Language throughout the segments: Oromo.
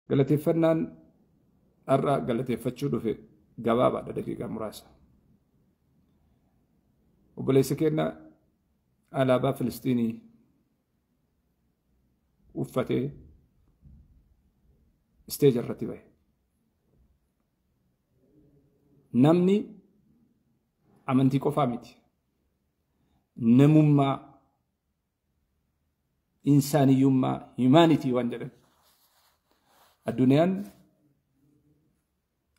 Galateeffannaan har'a galateeffachuu dhufe gabaabaadha daqiiqaa muraasa. Obboleessa keenya alaabaa Filistiinii uffatee isteeja irratti bahe. Namni amantii qofaa miti. Namummaa Insaaniyyummaa, humanity waan jedhan. Addunyaan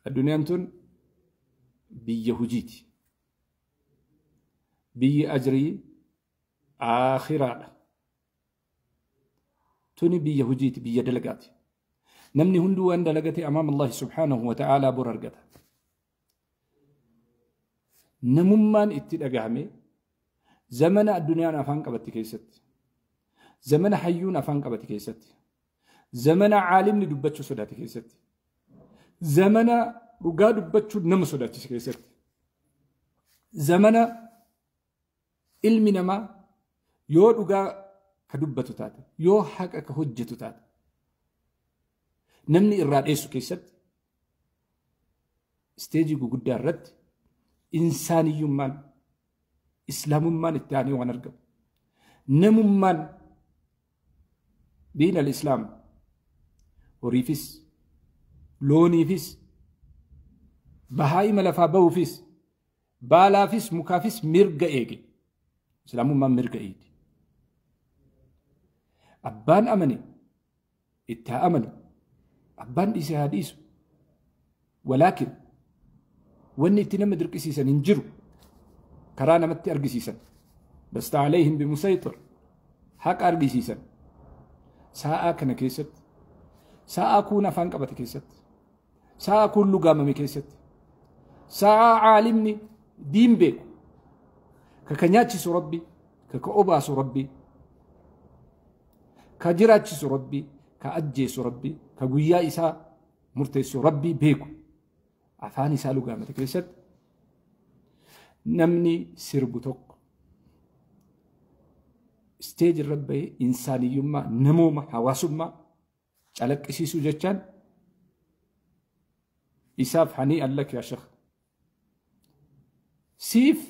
addunyaan tun biyya hujiiti. Biyyi ajrii aakhiraadha. Tuni biyya hujiiti, biyya dalagaati. Namni hunduu waan dalagate amaama Allahi subhaanahu wa ta'aalaa bor argata. namummaan itti dhagahame zamana addunyaan afaan qabatti keessatti zamana hayyuun afaan qabatti keessatti zamana caalimni dubbachuu sodaate keessatti zamana dhugaa dubbachuu nama sodaachise keessatti zamana Ilmi namaa yoo dhugaa ka dubbatu taate, yoo haqa ka hojjetu taate, namni irraa dheessu keessatti isteejii guguddaa irratti insaaniyyummaan islaamummaan itti aanee waan argamu. Namummaan diin al-islaam horiifis looniifis bahaa'ima lafaa bahuufis Baalaafis mukaafis mirga eege. Islaamummaan mirga eegdi. Abbaan amane itti haa amanu. Abbaan dhiise haa dhiisu. Walaakin wanni itti nama dirqisiisan hin jiru. Karaa namatti argisiisan. Lasta alayhim bimusayxir. Haqa argisiisan. Saa'aa kana keessatti. Saa'aa kuun afaan qabate keessatti. Sa'a kun lugaamame keessatti. Sa'a caalimni diin beeku. Ka ka nyaachisu rabbi. Ka ka obaasu rabbi. Ka jiraachisu rabbi. Ka ajjeesu rabbi. Ka guyyaa isaa murteessu rabbi beeku. Afaan isaa lugaamate keessatti namni sirbu tokko isteeji irra bahee insaaniyyummaa namooma hawaasummaa Calaqqisiisuu jechaan isaaf hanii allak yaa shekh. Siif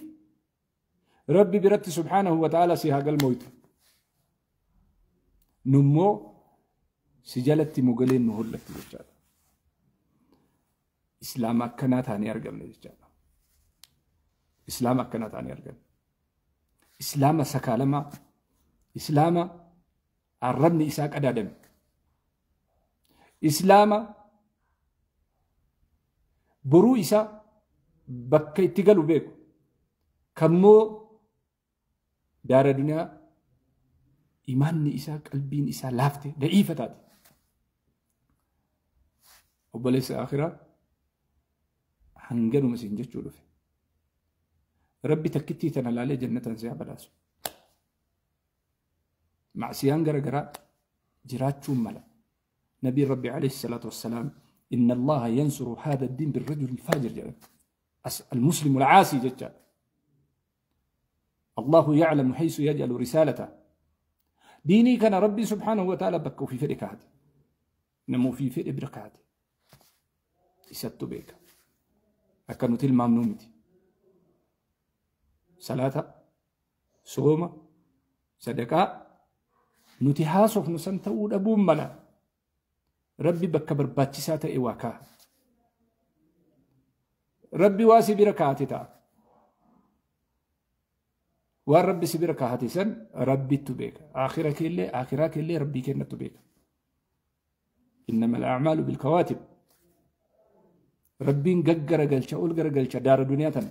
rabbi biratti subhaanahu wa ta'ala si haa galmooytu. Nummoo si jalatti mogaleen nu hollatti jechaadha. Islaama akkanaa taanee argamne jechaadha. Islaama akkanaa taanee argamne. Islaama sakaalamaa, Islaama arrabni isaa qadaadame. Islaama boruu isaa bakka itti galu beeku. Kammoo daara duniyaa imaanni isaa qalbiin isaa laafte da'iifa taate. Obboleessa akhiraa hanganuma isin jechuu dhufe. Rabbi takkittii tana laalee jannataan si haa badhaasu. Macsiyaan gara garaa jiraachuun mala. Nabiin Rabbi alayhi salaatu wassalaam inna Allaha yansuru haada diin birrajuli faajir jedhan. Al-Muslimu al-Caasii jecha. Allahu ya'lamu haysu yaj'alu risaalata. Diinii kana Rabbi subhaanahu wa ta'ala bakka ofii fedhe kaa'ate. Nama ofii fedhe bira kaa'ate. Isattu beeka. Akka nuti ilmaamnuu miti. Salaata Sooma, sadaqaa nuti haasofnu san ta'uu dhabuun mala. Rabbi bakka barbaachisaa ta'e waa kaa'a. Rabbi waa si bira kaa'ate ta'a. Waan Rabbi si bira kaa'ate san Rabbittu beeka. Aakhira keellee, aakhiraa keellee Rabbii kennattu beeka. Innama al-a'maalu bil-kawaatib. Rabbiin gaggaragalcha, ol garagalcha daara duniyaa tana.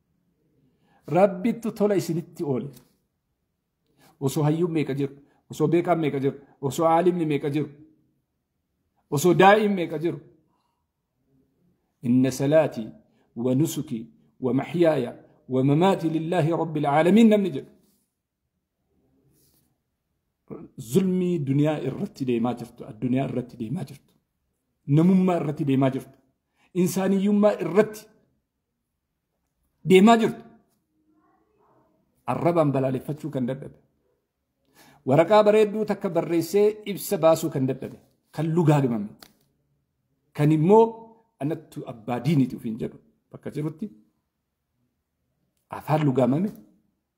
Rabbittu tola isinitti oole. Osoo hayyuun meeqa jiru, osoo beekaan meeqa jiru, osoo aalimni meeqa jiru, osoo daa'iin meeqa jiru. Inna salaatii wa nusukii wa maxyaaya wa mamaatii lillaahi rabbil aalamiin namni jedhu. Zulmii duniyaa irratti deemaa jirtu, addunyaa irratti deemaa jirtu, namummaa irratti deemaa jirtu, insaaniyyummaa irratti deemaa jirtu. Arrabaan balaaleffachuu kan dadhabe. Waraqaa bareedduu takka barreessee ibsa baasuu kan dadhabe. Kan lugaagamame. Kan immoo anattu abbaa diiniti ofiin jedhu bakka jirutti afaan lugaamame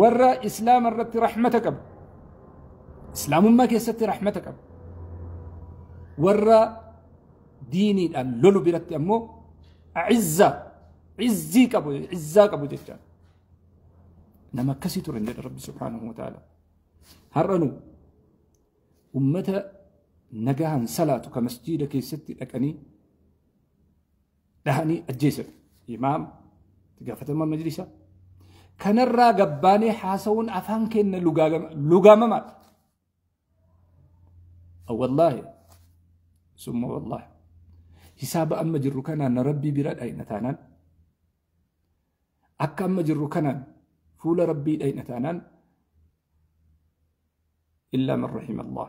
warra islaama irratti rahmata qabu islaamummaa keessatti rahmata qabu warra diiniidhaan lolu biratti ammoo a'izza izzii qabu izzaa qabu jecha nama akkasii ture jedha rabbi subhaanahu wa ta'ala har'anu ummata nagahan salaatu ka masjiida keessatti dhaqanii dhahanii ajjeesan imaam itti gaafatamaa majlisaa kanarraa gabbaanee haasawuun afaan keenya lugaamamaadha. Wallaahi summa wallaahi hisaaba amma jirru kanaan rabbii bira dhayna taanaan akka amma jirru kanaan fuula rabbii dhayna taanaan illaa man rahima Allah.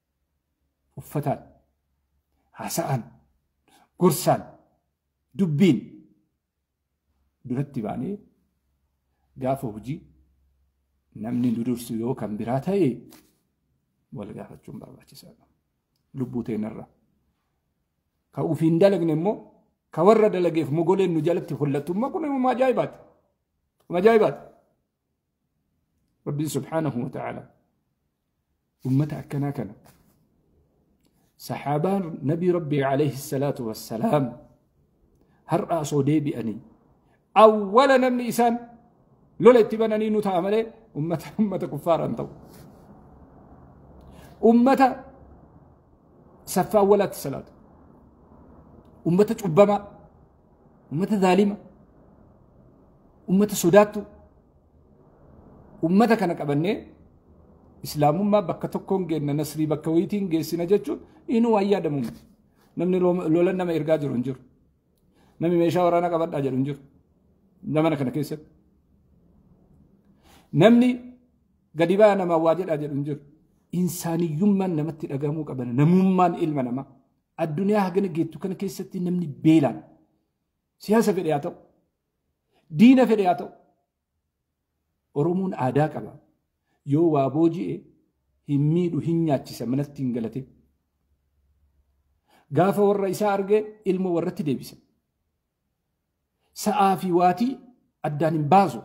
Uffataan, haasa'aan, gorsaan, dubbiin duratti baanee gaafa hojii namni nu dursu yoo kan biraa ta'e wal gaafachuun barbaachisaadha. Lubbuu teenarra. Ka ofiin dalagne immoo ka warra dalageef mogoleen nu jalatti hollattu immoo kun immoo ajaa'ibaati. Kun ajaa'ibaati. Rabbiin subhaanahu wa ta'ala ummata akkanaa kana sahaabaan nabii rabbii alayhi salaatu wassalaam har'a osoo deebi'anii awwala namni isaan lola itti bananii nu ta'a malee ummata ummata kuffaaran ta'u ummata saffaa awwalaatti salaatu ummata cubbamaa ummata zaalima ummata sodaattu ummata kana qabannee islaamummaa bakka tokkoon geenna nasrii bakka wayitiin geessina jechuun inuu waan yaadamu miti. Namni lolan nama ergaa jiru hin jiru. Namni meeshaa waraanaa qabadhaa jedhu hin jiru. Zamana kana keessatti. Namni gadi ba'aa namaa waa jedhaa jedhu hin jiru. Insaaniyyummaan namatti dhagahamuu qabana. Namummaan ilma namaa. Addunyaa hagana geettu kana keessatti namni beelaan siyaasa fedhe haa ta'u, diina fedhe haa ta'u, Oromoon aadaa qaba. Yoo waa booji'e hin miidhu hin nyaachisa manatti hin galate. Gaafa warra isaa arge ilmoo warratti deebisa. Sa'aa fi waatii addaan hin baasu.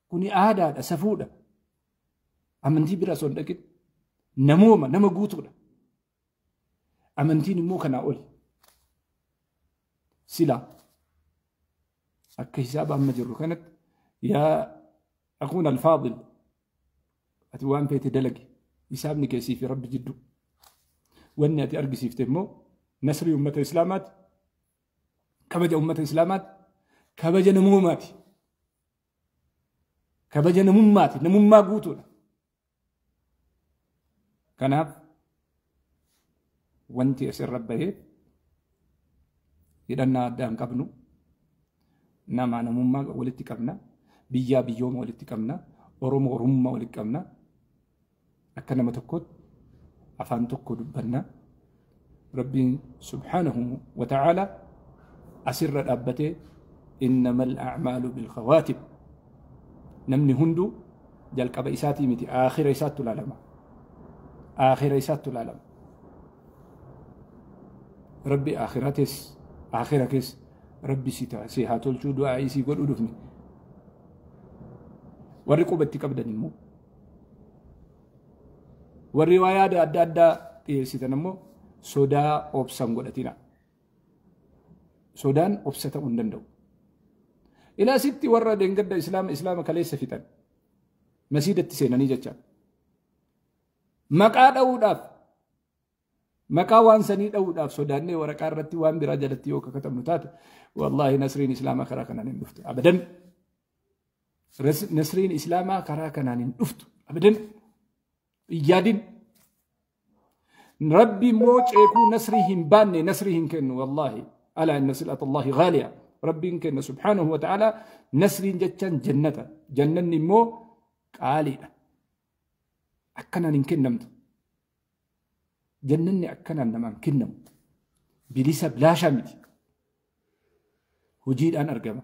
Kuni aadaadha, safuudha. Amantii bira osoo hin dhaqin namooma nama guutuudha. Amantiin immoo kanaa oli. Silaa akka hisaaba amma jirru kanatti yaa akuun alfaadil ati waan feete dalagi hisaabni keessii fi rabbi jidduu. Wanni ati argisiifte immoo nasrii ummata islaamaati kabaja ummata islaamaati kabaja namoomaati kabaja namummaati namummaa guutuudha. Kanaaf wanti asirra baheef hidhannaa addaa hin qabnu. Namaa namummaa walitti qabna. Biyyaa biyyooma walitti qabna. Oromoo oromummaa walitti qabna. Akka nama tokkootti afaan tokko dubbanna. Rabbiin subhaanahu wa ta'aala asirra dhaabbatee innamal a'maalu bil khawaatib namni hundu jalqaba isaatii miti aakhira isaattu ilaalama aakhira isaattu ilaalama rabbi aakhira tees aakhira kees rabbi si ta'a si haa tolchuu du'aa isii godhu dhufne warri quba itti qabdan immoo Warri waa yaada adda addaa dhiyeessitan ammoo sodaa obsan godhatina. Sodaan obsa ta'uu hin danda'u. Ilaasitti warra deengadda islaama islaama kaleessa fixan masiidatti seenanii jecha maqaa dha'uudhaaf maqaa waan sanii dha'uudhaaf sodaannee waraqaa irratti waan biraa jalatti yoo kakkatabnu taate wallaahi nasriin islaamaa karaa kanaan hin dhuftu abadan. Nasriin Islaamaa karaa kanaan hin dhuftu. Abadan hin yaadin. Rabbi immoo ceekuu nasrii hin baanne nasrii hin kennu wallaahi. Alaa inna sil'ata Allaahi ghaaliya. Rabbiin kenna subhaanahu wa ta'ala nasriin jechaan jannata. Jannanni immoo qaaliidha. Akkanaan hin kennamtu. Jannanni akkanaan namaan kennamu. Bilisa bilaashaa miti. Hojiidhaan argama.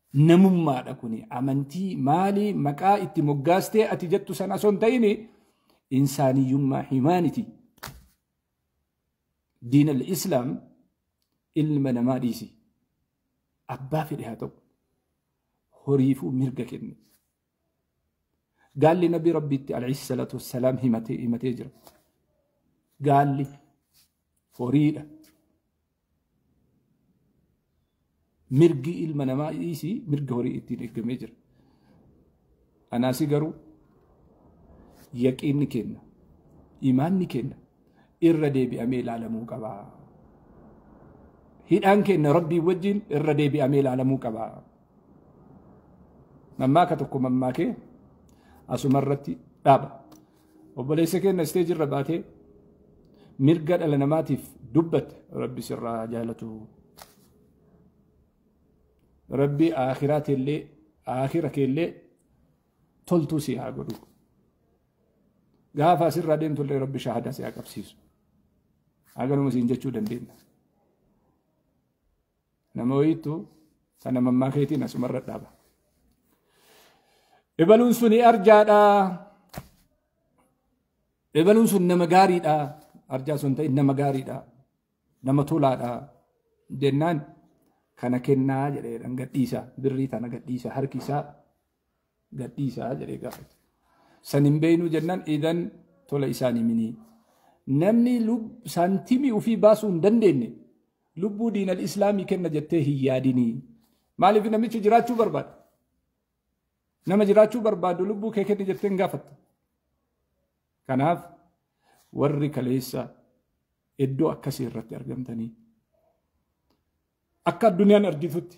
Namummaadha kuni amantii maali maqaa itti moggaastee ati jettu sana osoo hin ta'ini insaaniyyummaa himaaniti. Diina al-Islaam ilma namaa dhiisi. Abbaa fedhe haa ta'u. Horiifuu mirga kenne. Gaalli Nabii Rabbiitti alayhi salaatu wassalaam himatee himatee jira. Gaalli horiidha. Mirgi ilma namaa dhiisii mirga horii ittiin eegamee jira. Anaasi garuu yaqiinni kenna. Imaanni kenna. irra deebi'amee ilaalamuu qaba. Hidhaan keenya rabbii wajjin irra deebi'amee ilaalamuu qaba. Mammaaka tokko mammaakee asuma irratti dhaaba. Obboleessa keenya isteeji irra baatee mirga dhala namaatiif dubbatte rabbi sirraa jaalatu. Rabbi aakhiraa teellee aakira keellee toltuu si haa godhu. Gaafa asirraa deemtu illee rabbi shahaadaa si haa qabsiisu. Haganuma siin jechuu dandeenya. Nama wayiitu sana mammaa keetiin asumarra dhaaba. Ebaluun suni arjaadha. Ebaluun sun nama gaariidha. Arjaa sun ta'in nama gaariidha. Nama tolaadha. Jennaan kana kennaa jedhee gadhiisa. Birrii tana gadhiisa harki isaa gadhiisaa jedhee gaafate. San hin beeknu jennaan idan tola isaan himinii. Namni saantimii ofii baasuu hin dandeenye lubbuu diinal islaamii kenna jettee hin yaadinii. Maaliif namichi jiraachuu barbaada? Nama jiraachuu barbaadu lubbuu kee kenni jettee hin gaafatta. Kanaaf warri kaleessa iddoo akkasii irratti argamtanii akka addunyaan argitutti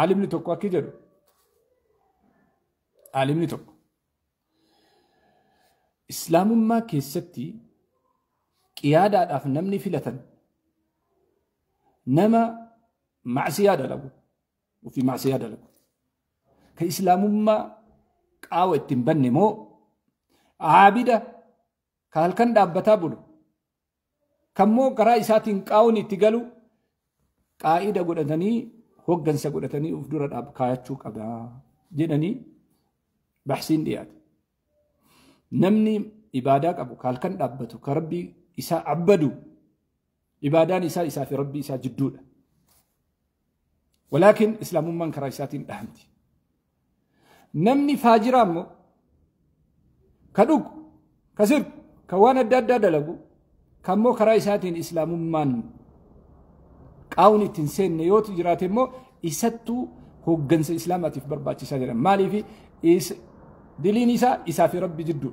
Aalimni tokko akki jedhu aalimni tokko islaamummaa keessatti qiyaadaadhaaf namni filatan nama macsiyaa dalagu ofii macsiyaa dalagu ka islaamummaa qaawa ittiin banne moo aabida ka halkan dhaabbataa bulu Kammoo karaa isaatiin qaawni itti galu qaa'ida godhatanii hoggansa godhatanii of dura dhaab kaayachuu qaba jedhanii bahsiin dhiyaate. Namni ibaadaa qabu kaalkan dhaabbatu ka rabbii isaa abbadu ibaadaan isaa isaa fi rabbii isaa jidduudha. Walaakin Islaamummaan karaa isaatiin dhahamti. Namni faajiraa immoo ka dhugu, ka sirbu, ka waan adda addaa dalagu, ka immoo karaa isaatiin Islaamummaan qaawun itti hin seenne yoo jiraate immoo isattuu hooggansa Islaamaatiif barbaachisaa jedhama. Maaliif diliin isaa isaa fi Rabbi jidduu.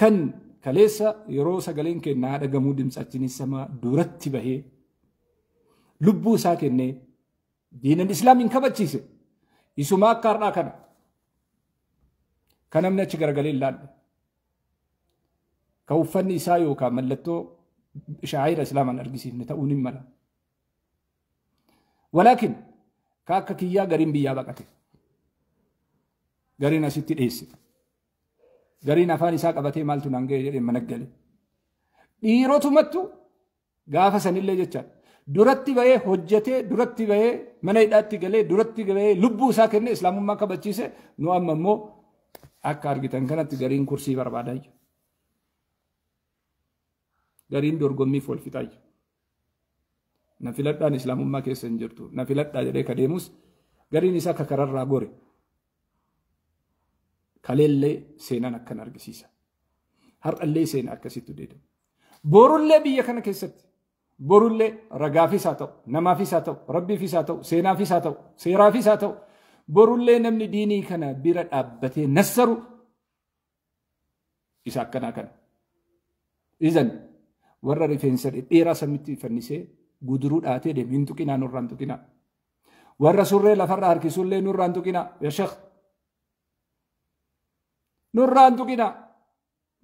Kan kaleessa yeroo sagaleen keenya haa dhagamuu dimtsachinis samaa duratti bahee lubbuu isaa kennee diinan islaamiin kabachiise isumaa akka har'aa kana kan namni achi garagalee hin laalle kan uffanni isaa yookaan mallattoo shaa'ira islaamaan argisiifne ta'uun hin mala. Walaakin ka akka kiyyaa gariin biyyaa baqate. Gariin asitti dheesse. Gariin afaan isaa qabatee maaltu naan ga'e jedhee mana gale. Dhiirotumattu gaafa sanillee jecha duratti ba'ee hojjetee duratti ba'ee mana hidhaatti galee duratti ba'ee lubbuu isaa kennee islaamummaa kabachiise nu amma immoo akka argitan kanatti gariin kursii barbaadaa jiru. Gariin dorgommiif wal fixaa jiru. Na filadhaan Islaamummaa keessa hin jirtu. Na filadhaa jedhee ka deemus gariin isaa ka kararraa gore. Kaleellee seenaan akkan argisiisa. Har'allee seena akkasitti deedama. Borullee biyya kana keessatti borullee ragaafis haa ta'u, namaafis haa ta'u, rabbiifis haa ta'u, seenaafis haa ta'u, seeraafis haa ta'u, borullee namni diinii kana bira dhaabbatee nassaru isa akkanaa kana. Izan warra rifeensa dhedheeraa samitti fannisee guduruu dhaatee deemu hin tuqinaa nurraa hin tuqinaa. Warra surree lafarra harkisuu illee nurraa hin tuqinaa yaa sheekh. Nurraa hin tuqinaa.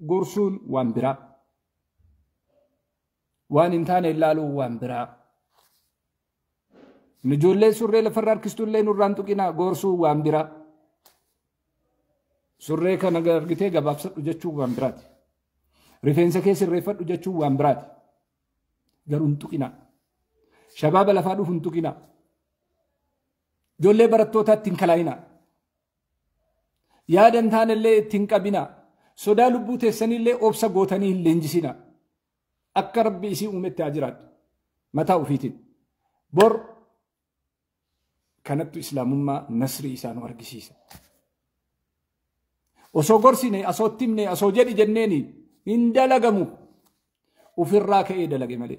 Gorsuun waan biraa. Waan hin taane ilaaluun waan biraa. Nu ijoollee surree lafarra harkistullee nurraan tuqinaa goorsuun waan biraa. Surree kana argitee gabaabsadhu jechuun waan biraati. Rifeensa kee sirreeffadhu jechuun waan biraati. Garuu hin tuqinaa. Shabaaba lafaa dhufu hin tuqinaa. Ijoollee barattootaatti hin kalaayinaa. Yaada hin taanellee itti hin qabinaa. Sodaa lubbuu teessaniillee obsa gootanii hin leenjisinaa. Akka rabbi isii uumetti haa jiraadhu. Mataa ofiitiin. Bor kanattu islaamummaa nasrii isaa nu argisiisa. Osoo gorsine, osoo timne, osoo jedhi jenneeni hin dalagamu. Ufirraa ka'ee dalage malee.